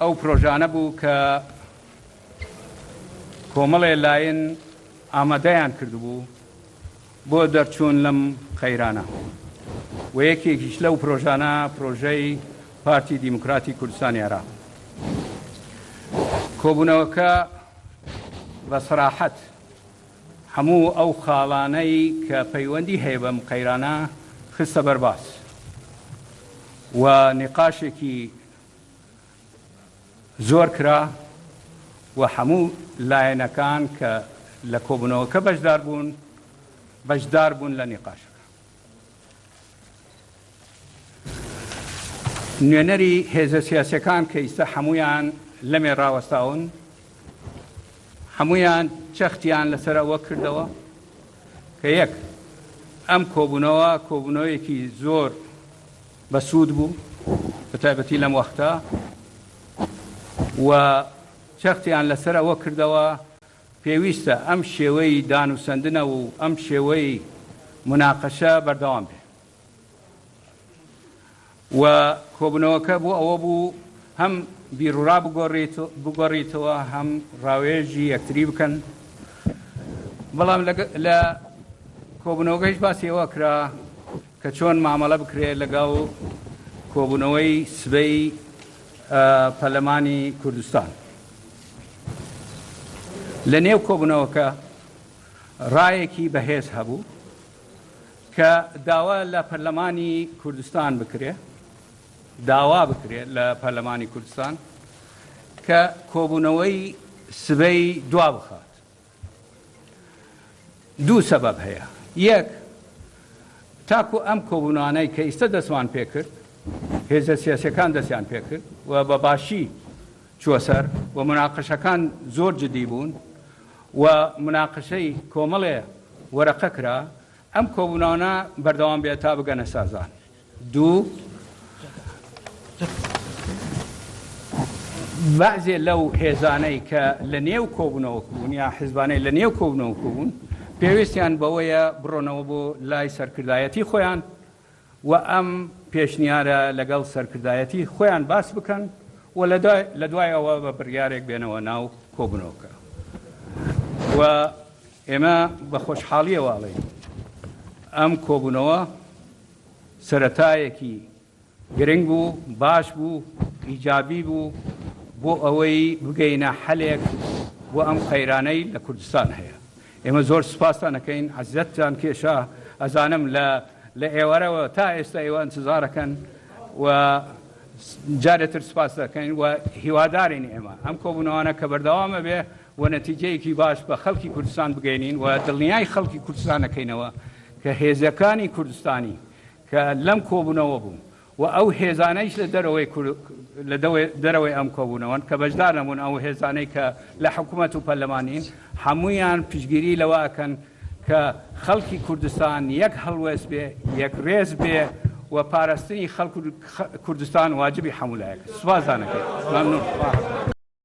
ئەو پرۆژانە بوو کە کۆمەڵێ لایەن ئامادەیان کردبوو بۆ دەرچوون لەم قەیرانە و یەکێکیش لەو پرۆژانە پرۆژەی پارتی دیموکراتی کوردستانی عێراق کۆبوونەوەکە بە سەراحەت هەموو ئەو خاڵانەی کە پەیوەندی هەیە بەم قەیرانە خستە بەرباس و نقاشێکی زۆر کرا و هەموو لایەنەکان کە لە کۆبوونەوەکە بەشدار بوون بەشدار بوون لە نیقاشەکە نوێنەری هێزە سیاسەکان کە ئیستا هەمویان لەمێ ڕاوەستاون هەمویان چەختیان لەسەر ئەوە کردەوە کە یەک ئەم کۆبوونەوە کۆبوونەوەیەکی زۆر بەسوود بوو بەتایبەتی لەم وەختە و چەختیان لەسەر ئەوە کردەوە پێویستە ئەم شێوەی دانوسەندنە و ئەم شێوەی مناقەشە بەردەوام بێ و کۆبنەوەکە بۆ ئەوە بوو هەم بیرورا بگۆڕیتەوە هەم ڕاوێژی یەکتری بکەن بەڵام لە کۆبنەوەگەیش باسیەوە کرا کە چۆن مامەڵە بکرێت لەگەڵ کۆبوونەوەی سبەی پەرلەمانی کوردستان. لە نێو کۆبوونەوەکە ڕایەکی بەهێز هەبوو کە داوا لە پەرلەمانی کوردستان بکرێ داوا بکرێت لە پەرلەمانی کوردستان کە کۆبوونەوەی سبەی دوا بخات دوو سەبەب هەیە، یەک تاکو ئەم کۆبوونەوانەی کە ئیستە دەستمان پێکرد هێزە سیاسیەکان دەستیان پێکرد و بە باشی چوەسەر و مناقەشەکان زۆر جدی بوون و مناقەشەی کۆمەڵێ وەرەقە کرا ئەم کۆبوونانە بەردەوام بێت تا بگەنە سازان. دوو، بەعزێ لەو هێزانەی کە لە نێو کۆبوونەوە بوون یا حزبانەی لە نێو کۆبوونەوە بوون پێویستیان بەوەیە بڕۆنەوە بۆ لای سەرکردایەتی خۆیان و ئەم پێشنیارە لەگەڵ سەرکردایەتی خۆیان باس بکەن و لە دوای ئەوە بە بڕیارێک بێنەوە ناو کۆبنەوەکە و ئێمە بە خۆشحاڵیەوەڵێ ئەم کۆبوونەوە سەرەتایەکی گرنگ بوو، باش بوو، ئیجابی بوو بۆ ئەوەی بگەینە حەلێک بۆ ئەم قەیرانەی لە کوردستان هەیە. ئێمە زۆر سوپاستان ئەکەین، عەزیەتتان کێشا، ئەزانم لە لە ئێوارەوە تا ئێستا ئێوە ئەنتزارەکەن و جارێتر سوپاستان ئەکەین و هیوادارین ئێمە ئەم کۆبوونەوانە کە بەردەوام ئەبێ و نەتیجەیەکی باش بە خەڵکی کوردستان بگەینین و دڵنیای خەڵکی کوردستان نەکەینەوە کە هێزەکانی کوردستانی کە لەم کۆبوونەوە بوون و ئەو هێزانەیش لە دەرەوەی لە دەرەوەی ئەم کۆبوونەوەن کە بەشدار نەبوون ئەو هێزانەی کە لە حکوومەت و پەرلەمانین هەمویان پشگیری لەوە ئەکەن کە خەڵکی کوردستان یەک هەڵوێست بێ یەک ڕێز بێ و پاراستنی خەڵک کوردستان واجبی هەمولایەک سوپاسدانەکەی ممنون.